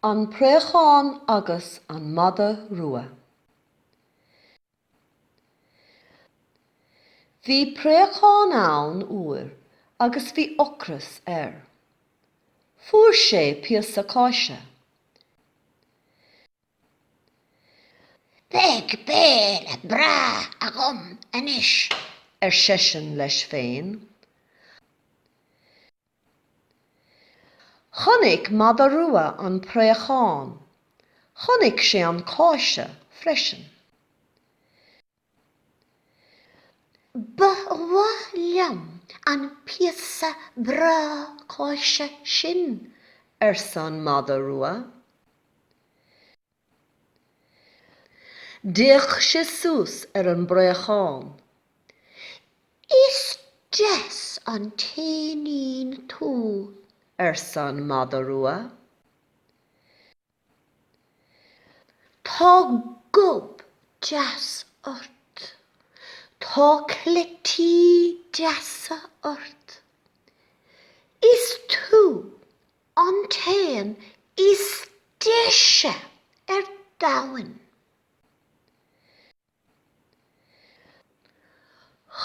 An Préachán agus an Madadh Rua Bhí préachán ann uair agus bhí ocras air. Fuair sé píosa cáise. Beidh béile breá agam anois, ar seisean leis féin. Chonaic mada rua an préachán. Chonaic sé an cáise freisin. Ba mhaith liom an píosa breá cáise sin, arsa an mada rua. D'fhéach sé suas ar an bpréachán. Is deas an t-éinín tú, arsa an mada rua. Tá gob deas ort. Tá cleití deasa ort. Is tú an t-éan is deise ar domhain.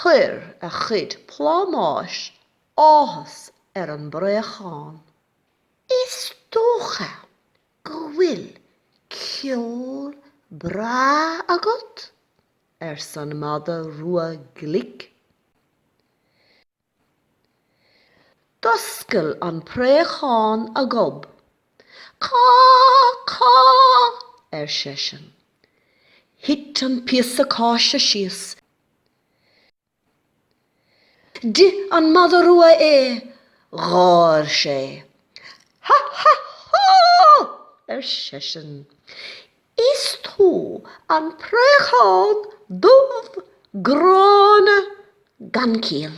Chuir a chuid plámáis áthas ar an bpréachán. Is dócha go bhfuil ceol breá agat? arsa an mada rua glic. D'oscail an préachán a ghob. Cá! Cá! ar seisean. Thit an píosa cáise síos. D'ith an mada rua é. Gháir sé. Ha! Ha! Há! ar seisean. Is tú an préachán dubh gránna gan chiall.